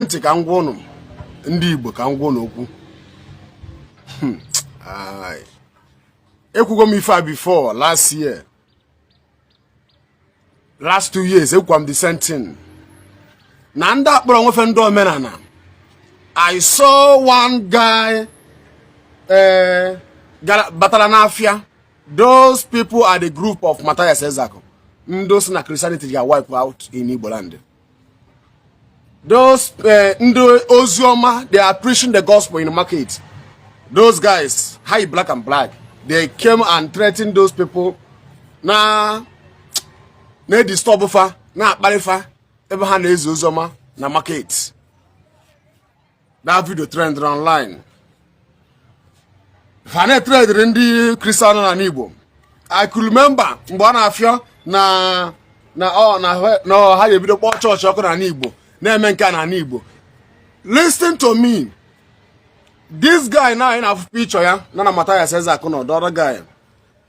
ntị ka m gwa ụnụ ndị Igbo ka m gwa ụnụ okwu hmm. ekwugo m ife a before last year last two years ekwukwa m the same thing na ndị a kpọrọ onwe fa ndị omenala I saw one guy eh, batala n'afịa those people are the group of Matthias Ezeaku ndị sị na Christianity ga wipe out in Igbo land those eh, ndị ozi ọma they are preaching the gospel in the market those guys yi black and black they came and threatened those people na-edisturb fa na-akparị fa ebe ha na-ezi ozi ọma na market that video trendịrị online ha na-ethreaten ndị kristian n'anị igbo i could remember mgbe ọ na-afịọ na na ọ na ha ga-ebido kpọọ chọọchị ọkụ n'anị igbo na-eme nke a n'anị igbo listen to me this guy na anyị na-afụ picture ya na na Mathias Ezeaku na the other guy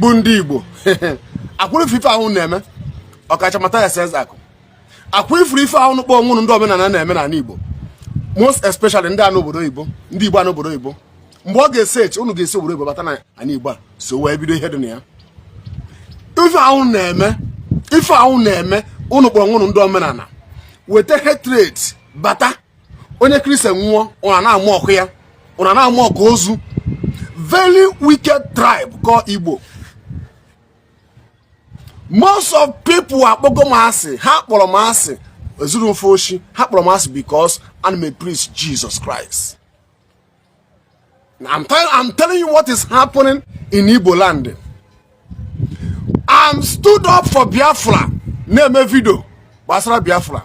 bụ ndị Igbo ọkwa unu fụrụ ife a unu na-eme ọkacha Matthias Ezeaku ọkwa unu fụrụ ife a unu kpọrọ onwe unu ndị omenala na-eme n'anị Igbo most especially ndị nọ obodo oyibo ndị Igbo nọ obodo oyibo mgbe ọ ga-esi echi unu ga-esi obodo oyibo bata n'anị Igbo a so wee bido ihe dị na ya ife a unu na-eme ife a unu na-eme unu kpọrọ onwe unu ndị omenala weta hatred bata onye kristian nwụọ unu na-amock ya unu na-amock ozu very wicked tribe called Igbo most of people akpọgo m asị ha kpọrọ m asị ezuru m fa oshi ha kpọrọ m asị because ana m epreach Jesus Christ I'm, tell, I'm telling you what is happening in Igbo land. I'm stood up for Biafra. Na-eme video gbasara Biafra.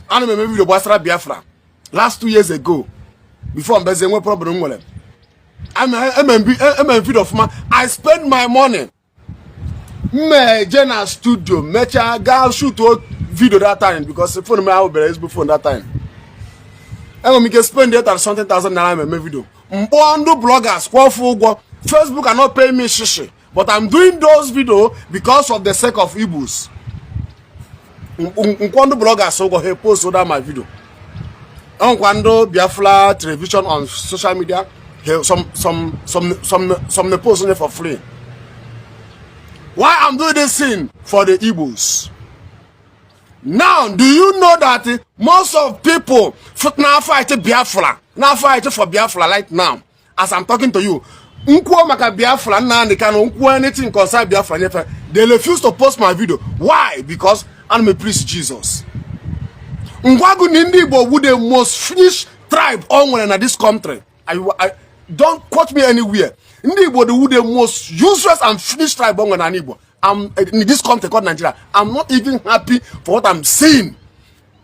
Ana m eme video gbasara Biafra last two years ago before m bịazie nwe problem nwere. Eme video ọfụma. I spend my money m na-eje na studio mechaa gaa shoot video that time because phone m abụberọ ezigbo phone that time enwere m ike spend eighty something thousand naira ma eme video m kpọọ ndị bloggers kwụọ fa ụgwọ facebook are not paying me shishi but i'm doing those video because of the sake of igbos nkwọ ndị blọgas ụgwọ ha epost da ma vidio ọnkwa ndị biafra television on social media some some some some some the post for free why i'm doing this thing for the igbos now do you know that most of people now fight biafra now fight for biafra right now as I'm talking to you nkwuo maka biafra nna Nnamdi Kanu nkwuo anything concern biafra nyefe they refuse to post my video why because ana m preach Jesus ngwagu na ndị Igbo wu the most finished tribe o nwere na this country I, I, don't quote me anywhere ndị Igbo the wu the most useless and finished tribe o nwere na Igbo I'm in this country called Nigeria I'm not even happy for what I'm seeing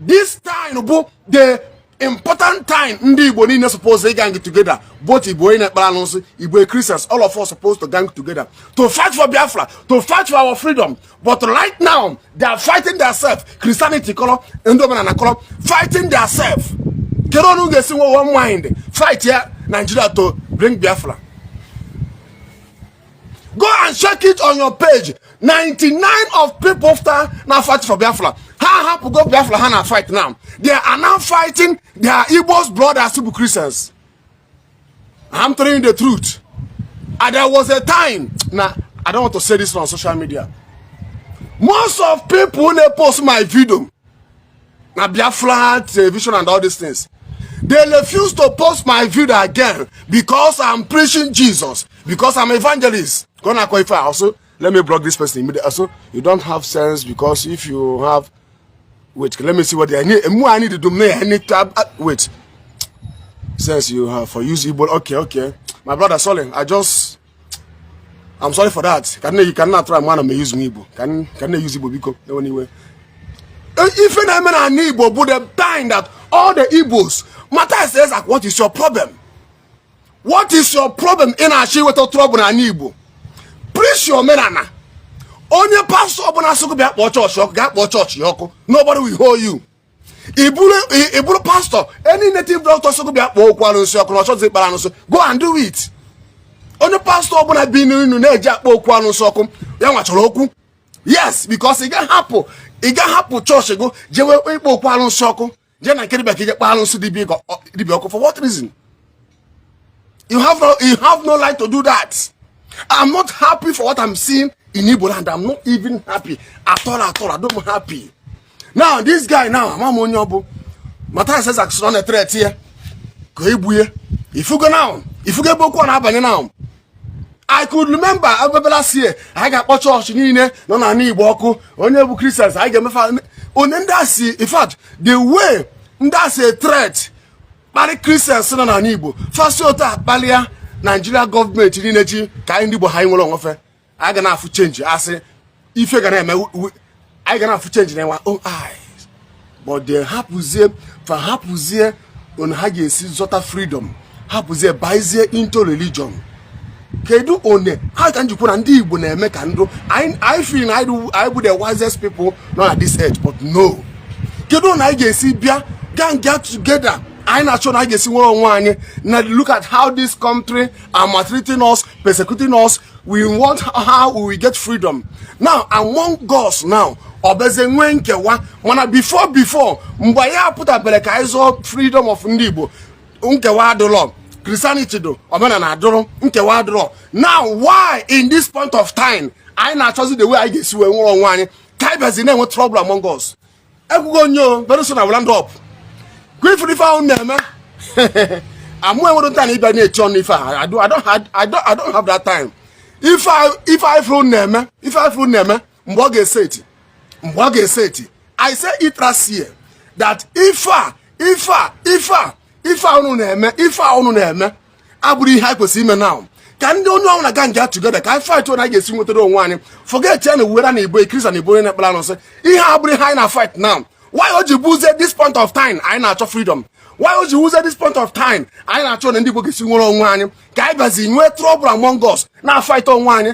this time bụ the important time ndị igbo niile suppose gang together both igbo onye na-ekpere alụsị igbo christians all of us supposed to gang together to fight for biafra to fight for our freedom but right now they are fighting themselves christianity kọrọ ndị omenala kọrọ fighting themselves kedu unu ga-esi nwe one mind fightịa nigeria to bring biafra go and check it on your page 99 of people after na fight for biafra ha hapụ go biafra ha na fight now they are now fighting their igbos brothers to be christians i'm telling you the truth and there was a time na i don't want to say this on social media most of people na post my video na biafra television and all these things they refuse to post my video again because i'm preaching jesus because i'm evangelist go na qualify also let me block this person immediately also you don't have sense because if you have wait let me see what i need more i need to do me i need to have, uh, wait sense you have for use igbo okay okay my brother sorry i just I'm sorry for that ka nne ka nna atụrụ ama na m eyuzu m igbo ka m na-eyuzu igbo biko ewena iwe e, ife na-eme na ana igbo bụ the time that all the igbos Matthias Ezeaku what is your problem what is your problem ị na-achọ iweta trouble na ana igbo preach your omenala onye pastọ ọbụla sị gụ bịa kpọọ chọọchị ọkụ gaa kpọọ chọọchị ọkụ nobody will hold you ị bụrụ pastọ any native doctor sị bịa kpọọ okwu arụsị ọkụ na ọ chọzi ikpere arụsị go and do it onye pastọ ọbụla bininu na-eje akpọ okwu arụsị ọkụ ya nwa chọrọ okwu yes because ị gaghị hapụ ị gaghị hapụ chọọchị gụ jewe ịkpọ okwu arụsị ọkụ jee na nke dibịa ka i je kpọọ arụsị dibịa ọkụ for what reason You have no, you have no right to do that. I'm not happy for what I'm seeing in Igbo land. I'm not even happy at all, at all. I don't happy. Now, this guy now, ama m onye ọ bụ. Matthias Ezeaku sị ọ na-a threat ya. Ka egbu ya. Ị fụgo now. Ị fụgo ebe okwu a na-abanye now. I could remember mgbe last year anyị ga-akpọ chọọchị niile nọ na ala Igbo ọkụ onye bụ Christians anyị ga-eme fa one ndị a si in fact the way ndị a si a threat kparị Christians nọ n'ala igbo fa si otu a kpalịa Nigeria government niile ji ka anyị ndị igbo ha anyị nwere onwe fa anyị ga na-afụ change a sị ife ga na-eme anyị ga na-afụ change in our own eyes but they hapụzie fa hapụzie one ha ga-esi zọta freedom hapụzie bazie into religion kedu one ha ka m ji kwuo na ndị igbo na-eme ka ndụ anyị feel na anyị bụ the wisest people nọ na this earth but no kedu na anyị ga-esi bịa gang get together anyị na-achọ na anyị ga-esi nwere onwe anyị na look at how this country are maltreating us persecuting us we want how we will get freedom now among us now ọ bịazi nwee nkewa mana before before mgbe anyị apụtabere ka anyị zọọ freedom of ndị igbo nkewa adịrọ Christianity dụ omenala dụrụ nkewa adịrọ now why in this point of time anyị na-achọzi the way anyị ga-esi wee nwere onwe anyị ka anyị bịazi na-enwe trouble among us ekwugo m ya o very soon I will land up ị fụrụ ife ahụ na-eme mụ enwerọ time na ịbịa na-eche ọnụ ife a I don't have that time ife ị fụrụ na-eme ife ị fụrụ na-eme mgbe ọ ga-eseti mgbe ọ ga-eseti i say it last year that ife a ife a ife a ife a unu na-eme ife a unu na-eme abụrọ ihe anyị kwesịrị ime na ka ndị onye ọbụna gang get together ka anyị fight na anyị ga-esi nwetara onwe anyị forget ya na whether na ị bụ onye Christian na ị bụ onye na-ekpere anụsị ihe a abụrọ ihe anyị na fight now why o ji buzie this point of time anyị na-achọ freedom why o ji wuzie this point of time anyị na-achọ na ndị igbo ga-esi nwere onwe anyị ka anyị bịazi nwee trouble among us na fight onwe anyị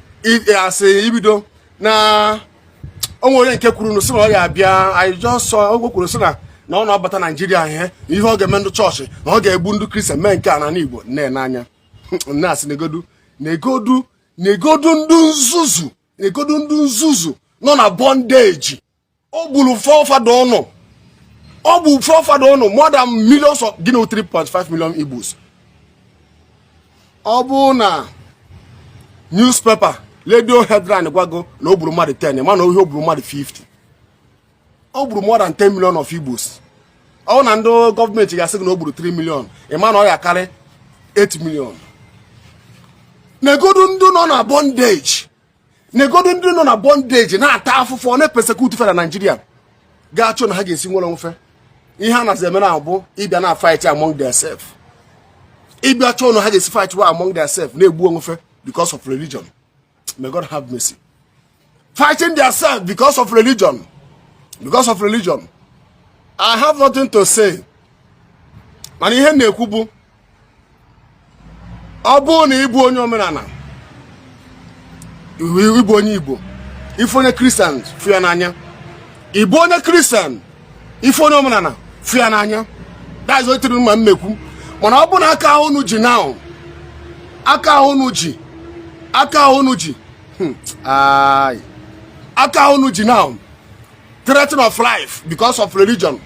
e, asị ibido na o nwere onye nke kwuru na sị na ọ ya abịa I just saw o kwuru sị na na ọ na-abata naijiria ihe ihe ọ ga-eme ndị chọọchị na ọ ga-egbu ndị kristian mee nke a na igbo m nee anya m nee sị negodu negodu negodu ndị nzuzu negodu ndị nzuzu nọ na bondage o gburu forefather ụnụ o gburu forefather ụnụ more than millions of gịnị 3.5 million igbos ọ bụ na newspaper radio headline gwa gị na o gburu mmadụ 10 mana ọ ihe o gburu mmadụ 50 o gburu more than 10 million of igbos ọ bụ na ndị gọọmenti ga-asị gị na o gburu 3 million ị ma na ọ ya-akarị 8 million negodu ndị nọ na bondage negodu ndị nọ na bondage na-ata afụfụ a na-epesekut fe na naijiria ga-achọ na ha ga-esi nwere onwe fe ihe a nazi eme now bụ ịbịa na fight among theirself ịbịa chọọ na ha ga-esi fight wa among theirself na-egbu onwe fe because of religion may God have mercy fighting theirself because of religion because of religion I have nothing to say mana ihe m na-ekwu bụ ọ bụrụ na ị bụ onye omenala ị bụ onye igbo ị fụ onye kristian fụ ya n'anya ị bụ onye kristian ị fụ onye omenala fụ ya n'anya that's it ihe m ma m ekwu mana ọ bụ na aka ahụ unu ji now aka ahụ unu ji aka ahụ unu ji hmm, aka ahụ unu ji now threaten of life because of religion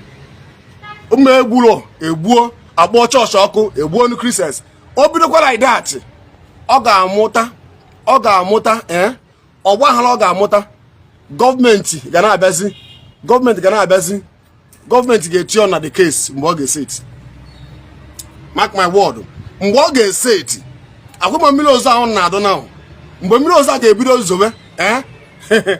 unu egbuo egbuo akpọọ chọọchị ọkụ egbuo nu Christians o bidokwa like that ọ ga-amụta ọ ga-amụta ee eh, ọgbaghara ọ ga-amụta gọọmenti ga na-abịazi gọọmenti ga na-abịazi gọọmenti ga-eti ọnụ na the case mgbe ọ ga-eseti mark my word mgbe ọ ga-eseti akwụkwọ mmiri ozo ahụ na-adụ na mgbe mmiri ozo a ga-ebido zobe ee eh,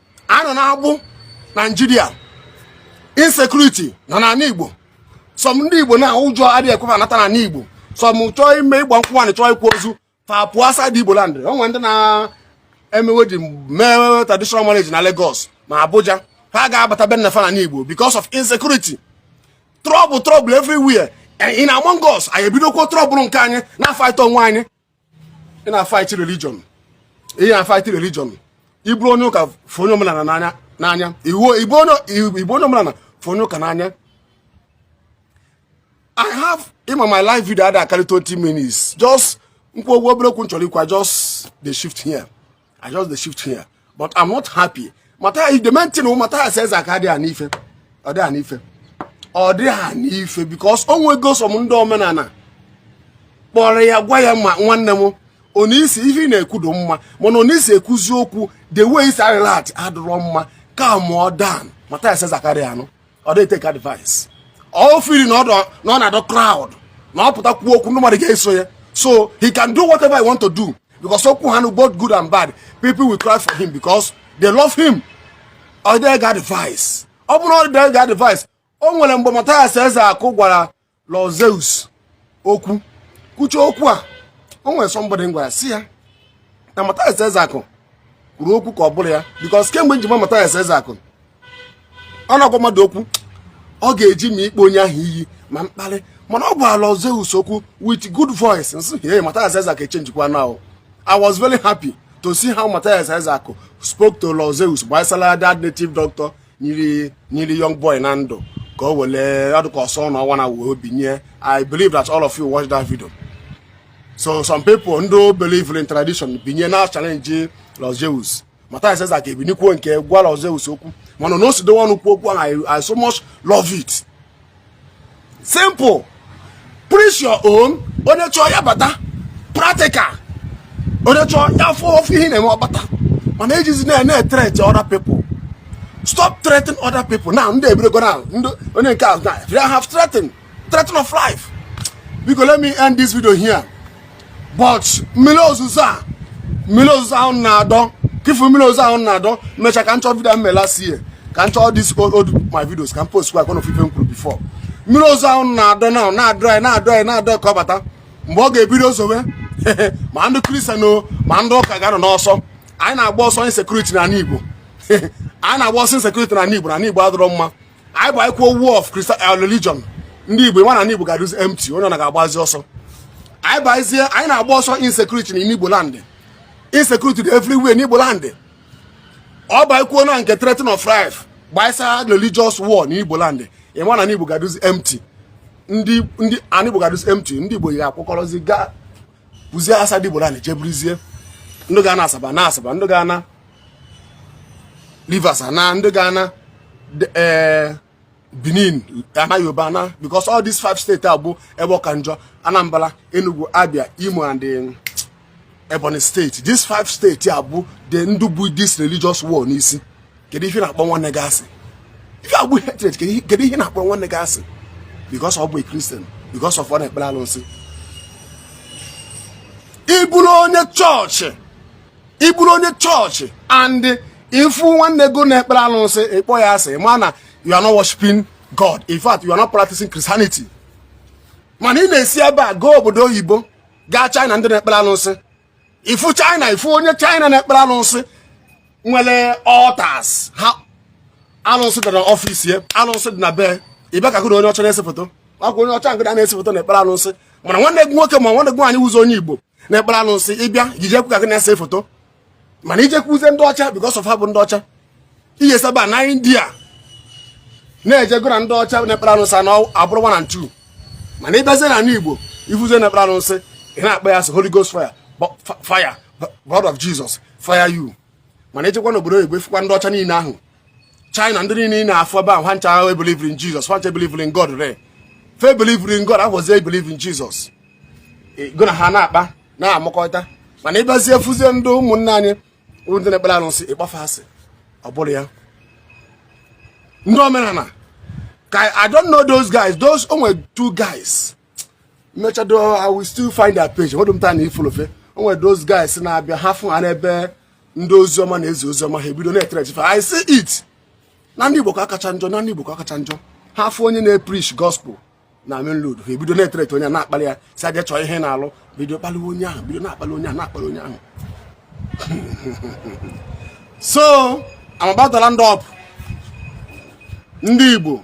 anọ na-agbụ naijiria insecurity nọ n'ala igbo some ndị igbo na ụjọ adịghị ekwe fa anata n'ala igbo some chọọ ime ịgba nkwụ nwaanyị chọọ ịkwa ozu fa pụọ outside igbo land o nwe ndị na-eme wedding mee traditional marriage na Lagos ma Abuja ha ga-abata be nna fa n'ala igbo because of insecurity trouble trouble everywhere in among us anyị ebidokwuo trouble nke anyị na-afaịta onwe anyị ị na-afaịtị religion ị na-afaịtị religion ị bụrụ onye ụka fụ onye omenala n'anya ị bụ onye omenala fụ onye ụka n'anya i have ị ma my live video ada akarị 20 minutes just m kwuo okwu obere okwu m chọrọ ikwu just the shift here I just dey shift here but I'm not happy the main thing Mathias Ezeaku adị anụ ife ọ dị anụ ife because o nwego some ndị omenala kpọrọ ya gwa ya ma nwanne m ọnụ i si ife ị na-ekwu dị mma mana ọnụ i si ekwuzi okwu the way i si a-react adịrọ mma calmụọ down Mathias Ezeaku adị anụ ọ dịghị e-take advice o feel na ọ na-adọ crowd na ọ pụta kwuo okwu ndị mmadụ ga-eso ya so he can do whatever he want to do because okwu ha both good and bad people will cry for him because they love him ọ dịghị ege advice ọ bụrụ na ọ dịghị ege advice o nwere mgbe Mathias Ezeaku gwara Lord Zeus okwu kwuchaa okwu a o nwere somebody m gwara sị ya na Mathias Ezeaku kwuru okwu ka ọ bụrọ ya because kemgbe m ji ma Mathias Ezeaku ọ na-agwa mmadụ okwu ọ ga-eji ma ịkpọ onye ahụ iyi ma mkparị mana ọ gwara Lord Zeus okwu with good voice m sị hey Mathias Ezeaku echenjikwa now I was very happy to see how Mathias Ezeaku spoke to Lord Zeus gbasara that native doctor nyiri young boy na ndụ ka o wele adụka ọsọ na ọnwa na wee binye i believe that all of you watch that video so some people ndị believe in tradition binye na challenge Lord Zeus Mathias Ezeaku ebinikwuo nke gwa Lord Zeus okwu mana na o si dowe ọnụ kwuo okwu ahụ I so much love it simple preach your own onye chọọ ya bata practical onye chọọ ya fụ ife ị na-eme ọ bata mana ejezina e-threat other people stop threatening other people now ndị ebidogo now ndị onye nke ahụ na have threatened threaten of life biko let me end this video here but mmiri ozuzo a mmiri ozuzo ahụ na-adọ ka ị fụ mmiri ozuzo ahụ na-adọ mechaa ka m chọọ video m mere last year ka m chọọ these old my videos ka m postkwa ka ụnụ fụ ife m kwuru before mmiri ozuzo ahụ na-adọ na na-adọ anyị na-adọ anyị na-adọ ka ọ bata mgbe ọ ga-ebido zowe ma ndị Christian o ma ndị ụka ga-anọ n'ọsọ anyị na-agba ọsọ insecurity na ala Igbo anyị na-agba ọsọ insecurity na ala Igbo na ala Igbo adịrọ mma anyị bakwuo war of Christian eh, religion ndị Igbo nwa na anị Igbo ga-adụzi empty onye ọ na ga-agbazi ọsọ anyị bazie anyị na-agba ọsọ insecurity na Igbo land insecurity dị everywhere na Igbo land ọ bakwuo na nke threatening of life gbaisa religious war na Igbo land ị nwa na ndị Igbo ga-adụzi empty ndị ndị anị Igbo ga-adụzi empty ndị Igbo ga-akwakọrọzi gaa buzie outside Igbo land jee buruzie ndị ga-ana Asaba ana Asaba ndị ga-ana Rivers ana ndị ga-ana eh, Benin ana Yoruba ana because all these five states a bụ ebe ọ ka njọ Anambra Enugu Abia Imo and um, Ebonyi state these five state a bụ the ndị bu this religious war n'isi kedu ihe ị na-akpọ nwanne gị asị ife a bụ hatred kedu ihe ị na-akpọ nwanne gị asị because ọ bụ a Christian because of ọ na-ekpere alụsị ị bụrụ onye chọọchị ị bụrụ onye chọọchị and ị fụ nwanne gị ọ na-ekpere alụsị ị kpọọ ya asị ma na you are not worshiping God in fact you are not practicing Christianity mana ị na-esi ebe a gaa obodo oyibo gaa China ndị na-ekpere alụsị ị fụ China ị fụ onye China na-ekpere alụsị nwere altars ha alụsị dị na ọfịs ya alụsị dị na be ị bịa ka gụ na onye ọcha na-ese foto ọ kwa onye ọcha nke na-ese foto na-ekpere alụsị mana nwanne gị nwoke ma nwanne gị nwaanyị wụzị onye Igbo na-ekpere alụsị ị bịa ijekwu ka gị na-ese foto mana i jekwuzie ndị ọcha because of ha bụ ndị ọcha i si ebe a na india na-eje gụ na ndị ọcha na-ekpere alụsị na-abụrụ one and two mana ị bịazie na ala igbo ị fụzie na-ekpere alụsị ị na-akpọ ya asị holy ghost fire fire blood of jesus fire you mana i jekwa n'obodo oyibo ị fụkwa ndị ọcha niile ahụ china ndị niile ị na-afụ ebe ahụ ha ncha ebelieverọ in jizọs ha ncha ebelieverọ in god re fe believe in god ahụzi ebelieve in jizọs gụ na ha na-akpa na-emekọta mana ị bịazie fụzie ndị ụmụnne anyị ndị na-ekpere arụsị ị kpọ fa asị ọ bụrụ ya ndị omenala ka i don't know those guys those o nwe two guys mmechado I will still find their page nwedo m time ịfollow fa o nwere those guys na-abịa ha fụ ha n'ebe ndị ozi ọma na-ezi ozi ọma ha ebido na-ethreat fa I see it na ndị Igbo ka ọ kacha njọ na ndị Igbo ka ọ kacha njọ ha fụ onye na-epreach gospel na main road ha ebido na-ethreat onye na-akpali ya sị ya jee chọọ ihe na-alụ bido kpaliwe onye ahụ bido na-akpali onye ahụ na-akpali onye ahụ so I'm about to round up ndị Igbo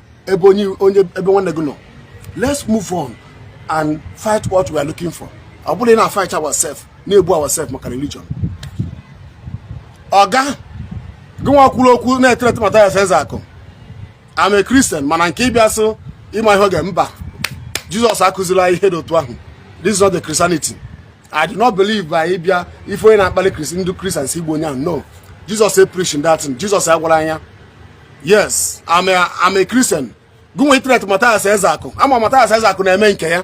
ebe onye onye ebe nwanne gị nọ let's move on and fight what we are looking for ọ bụrọ ịna-afight ourselves na-egbu ourselves maka religion ọga gị nwa kwuru okwu na-ethreat Mathias Ezeaku I'm a Christian mana nke ịbịa sị ịma ihe oge mba Jizọs akụzirọ anyị ihe dị otu ahụ this is not the Christianity I do not believe by ị bịa ị fụ onye na-akpali kristi ndị kristian sị gbuo onye ahụ no Jesus e preaching that thing Jesus agwarọ anyị ya yes I'm a, I'm a Christian gụ nwa ithreat Mathias Ezeaku a ma Mathias Ezeaku na-eme nke ya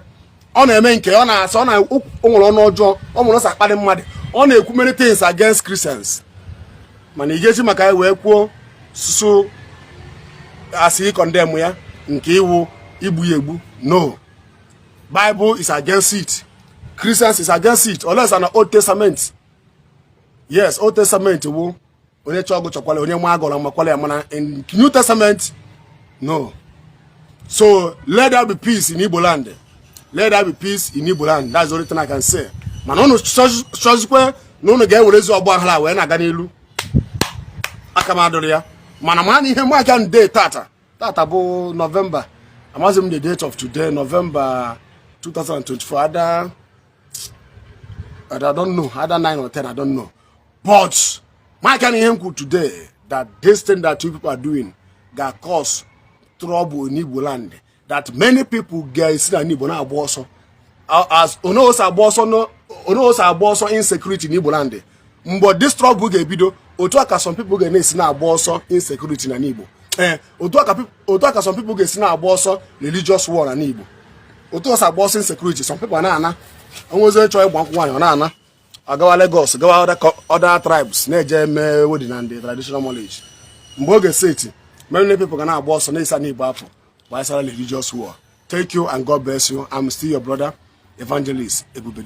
ọ na-eme nke ya ọ na-asọ na o nwere ọnụ ọjọọ ọ nwere ọsọ akpali mmadụ ọ na-ekwu many things against Christians mana ị ga-eji maka ya wee kwuo susu asị ịcondemn ya nke wụ igbu ya egbu no Bible is against it. Christians is against it. Unless na Old Testament. Yes, Old Testament wụ onye chọọ gụ chọkwala onye maa gụ ụra makwala ya mana in New Testament no. So let there be peace in Igbo land. Let there be peace in Igbo land. That's the only thing I can say. Mana unu chọzikwe na unu ga-ewerezi ọgba aghara wee na-aga n'iru aka m adịrọ ya mana ma na ihe mụ aka nde tata tata bụ November amaghịzi m the date of today November 2024 I don't know either 9 or 10 I don't know but markịanụ ihe m kwuru today that this thing that you people are doing ga cause trouble in Igbo land that many people ga-esi n'ana Igbo na-agba ọsọ as unu si agba ọsọ insecurity in Igbo land mgbe this trouble ga-ebido otu a ka some people ga na-esi na-agba ọsọ insecurity n'ana Igbo ee eh, otu a ka some people ga-esi na-agba ọsọ religious war n'ana Igbo otu e si agba ọsọ insecurity some people na-ana o nwezi onye chọọ ịgba nkwụ nwaanyị ọ na-ana agawa Lagos gawa other tribes na-eje eme wedding na the traditional marriage mgbe ọ ga-eseti many people ga na-agba ọsọ na-esi ana Igbo afụ gbasara religious war thank you and God bless you I'm still your brother evangelist Ebube